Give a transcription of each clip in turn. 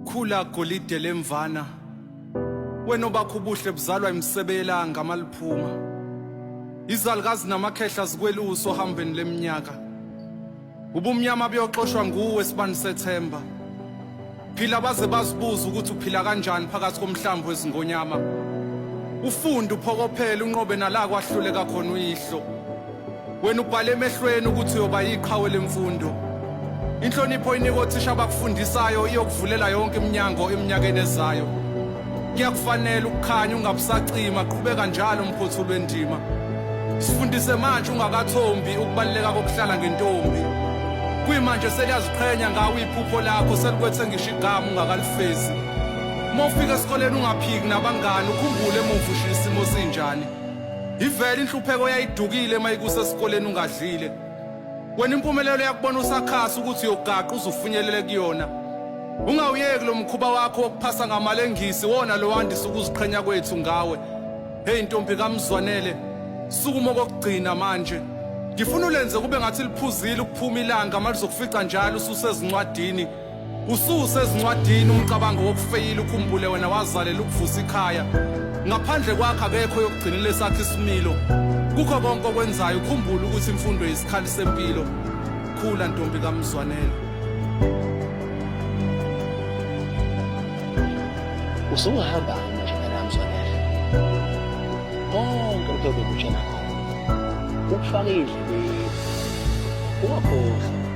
Khula golide lemvana wena obakho ubuhle buzalwa imisebe yelanga maliphuma izalukazi namakhehla zikweluso hambeni leminyaka ubumnyama buyoxoshwa nguwe sibani sethemba phila baze bazibuza ukuthi uphila kanjani phakathi komhlambi wezingonyama ufunde uphokophele unqobe nala kwahluleka khona uyihlo Wena ubhale emehlweni ukuthi uyoba yiqhawe lemfundo. Inhlonipho inikwa othisha abakufundisayo iyokuvulela yonke iminyango eminyakeni ezayo. Kuyakufanele ukukhanya ungabusacima qhubeka njalo mphotho lwendima. Sifundise manje ungakathombi ukubaluleka kokuhlala ngentombi. Kuyimanje seliyaziqhenya ngawe iphupho lakho selikwethe ngisho igama ungakalifezi. Uma ufika esikoleni ungaphiki nabangani ukhumbule emuva ushisa isimo sinjani. Ivele inhlupheko yayidukile mayikusa esikoleni ungadlile. Wena impumelelo yakubona usakhasa ukuthi uyogaqa uzufinyelele kuyona. Ungawuyeki lo mkhuba wakho wokuphasa ngamalengisi wona lowandisa ukuziqhenya kwethu ngawe. Hey ntombi kaMzwanele, sukuma okugcina manje. Ngifuna ulenze kube ngathi liphuzile ukuphuma ilanga malizokufica njalo ususezincwadini. Ususe ezincwadini umcabango wokufeyila ukhumbule wena wazalela ukuvusa ikhaya. Ngaphandle kwakhe akekho yokugcinela esakhe isimilo. Kukho konke okwenzayo ukhumbule ukuthi imfundo yisikhali sempilo. Khula ntombi kaMzwanele. Usuhamba manje phela Mzwanele. Konke lokho bekutshela khona. Ukufaka indlebe. Ungakhohlwa.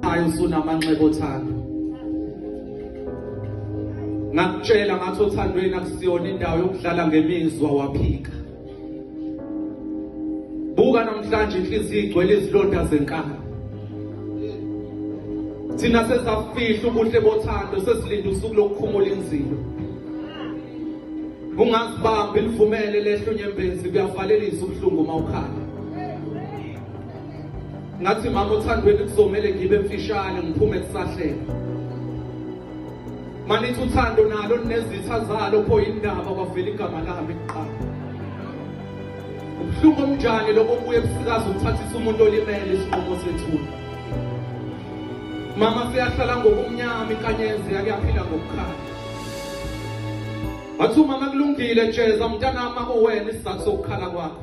Ayo usunamanxeba othando. Ngakutshela ngathi othandweni akusiyona indawo yokudlala ngemizwa waphika. Buka namhlanje inhliziyo igcwele izilonda zenkaba. Thina sesafihla ubuhle bothando sesilinde usuku lokukhumula inzilo. Ungazibambi livumele lehlo nyembezi kuyavalelisa ubuhlungu uma ukhala. ngathi mama othandweni kuzomele ngibe mfishane ngiphume kusahleka manithi uthando nalo linezitha zalo pho yindaba kwavela igama lami kuqala ubuhlungu omnjani lokho kuye busikazi ukuthathisa umuntu olimele isinqumo sethuna mama siyahlala ngokumnyama inkanyezi yake yaphila ngokukhala wathi umama kulungile jeza mntanami akuwena isizathu sokukhala kwakho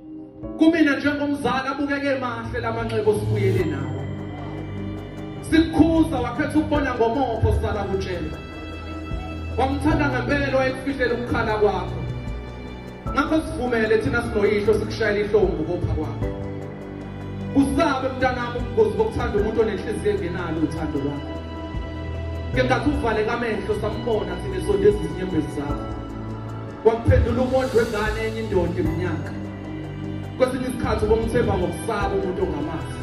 Kumina njengomzali abukeke mahle lamanxebo sibuyele nawo. Sikukhuza wakhetha ukubona ngomopho sala kutshela. Wamthanda ngempela wayekufihlela ukukhala kwakho. Ngakho sivumele thina sinoyihlo sikushayela ihlombu kopha kwakho. Usabe mntanami ubungozi bokuthanda umuntu onenhliziyo engenalo uthando lwakho. Ngengathi uvale kamehlo sambona thina esondeza izinyembezi zakho. Kwakuphendula umuntu wengane enye indoda iminyaka. Kwesinye isikhathi ubomthemba ngokusaba umuntu ongamazi.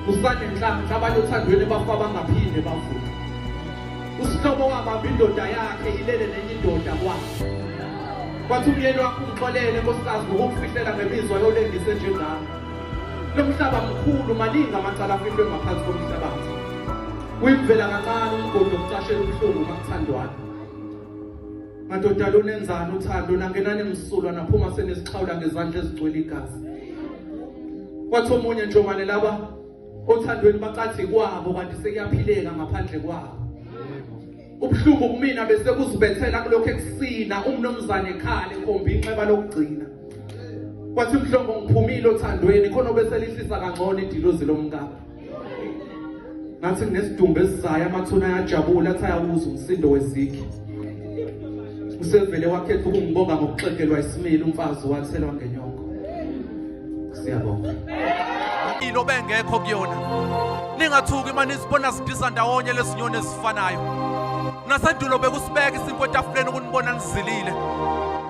Usane nhlanhla abantu othandweni bafa bangaphinde bavuke. Usihlobo wabamba indoda yakhe ilele nenye indoda kwakhe. Kwathi umyeni wakho umxolele nkosikazi ngokufihlela ngemizwa yolengise njengami. Lo mhlaba mkhulu maningi amacala afihlwe ngaphansi komhlabathi. Kuyimvela kancane umgodi okucashela ubuhlungu makuthandwana. Madoda lunenzani uthando nangenani msulwa naphuma senezixhawula ngezandla ezigcwele igazi. Kwathi omunye njomane laba othandweni bacathi kwabo kanti sekuyaphileka ngaphandle kwabo. Ubuhlungu kumina bese kuzibethela kulokho ekusina umnomzane ekhale khomba inxeba lokugcina. Kwathi mhlongo ngiphumile othandweni khona obeselihlisa kangcono idilozi lomkakhe. ngathi kunesidumbu esizayo amathuna ayajabula athi ayawuza umsindo wezigi usevele wakhetha ukungibonga ngokuxegelwa isimile umfazi wathela wangenyoko siyabonga ini obengekho kuyona ningathuki uma nizibona zidisa ndawonye lezinyoni ezifanayo nasendulo bekusibeka isinkwa etafuleni ukunibona nizilile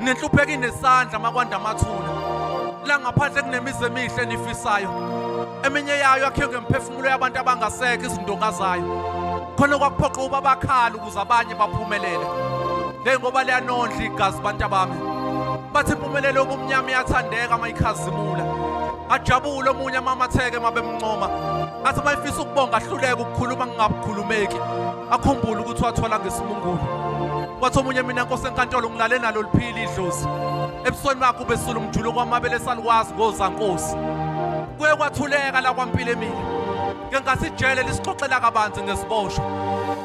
nenhlupheki nesandla makwanda amathula la ngaphandle kunemizi emihle nifisayo eminye yayo yakhiwe ngemphefumulo yabantu abangasekho izindonga zayo khona kwakuphoqa uba bakhala ukuze abanye baphumelele le ngoba liyanondla igazi bantu abami bathi impumelelo yobumnyama iyathandeka mayikhazimula ajabule omunye amamatheke mabemncoma athi mayifisa ukubonga ahluleke ukukhuluma ngingabukhulumeki akhumbule ukuthi wathola ngesimungulu wathi omunye mina nkosi enkantolo ngilale nalo liphili idlozi ebusweni bakho ubesula umjuluko wamabele esaluwazi ngozankosi kuye kwathuleka la kwampilo emile ngenkathi ijele lisixoxela kabanzi ngesiboshwa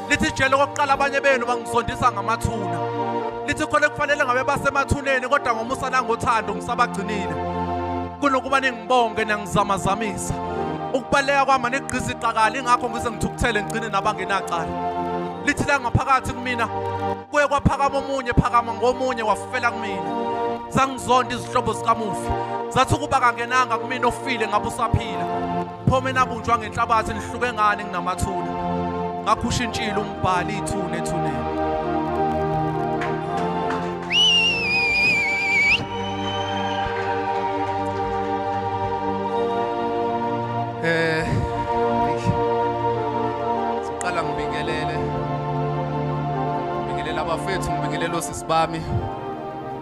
lithi ijele okokuqala abanye benu bangizondisa ngamathuna lithi khona kufanele ngabe basemathuneni kodwa ngomusa nangothando ngisabagcinile kunokuba bonke niyangizamazamisa ukubaleka kwami anigqizi iqakala ingakho ngize ngithukuthele ngigcine nabangenacala lithi la ngaphakathi kumina kuye kwaphakama omunye phakama ngomunye wafela kumina zangizonda izihlobo zikamufi zathi ukuba kangenanga kumina ofile ngabe usaphila phome nabunjwa ngenhlabathi nihluke ngani nginamathuna ngakhusha intshile umbhali ithuna ethuneni Eh siqala ngibingelele ngibingelela abafethu ngibingelela osisi bami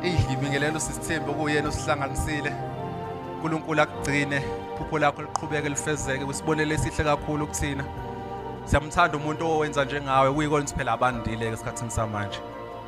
eyi ngibingelela usisi Thembi okuyena osihlanganisile uNkulunkulu akugcine iphupho lakho liqhubeke lifezeke usibonele esihle kakhulu kuthina siyamthanda umuntu owenza njengawe kuyikona phela abandile esikhathini samanje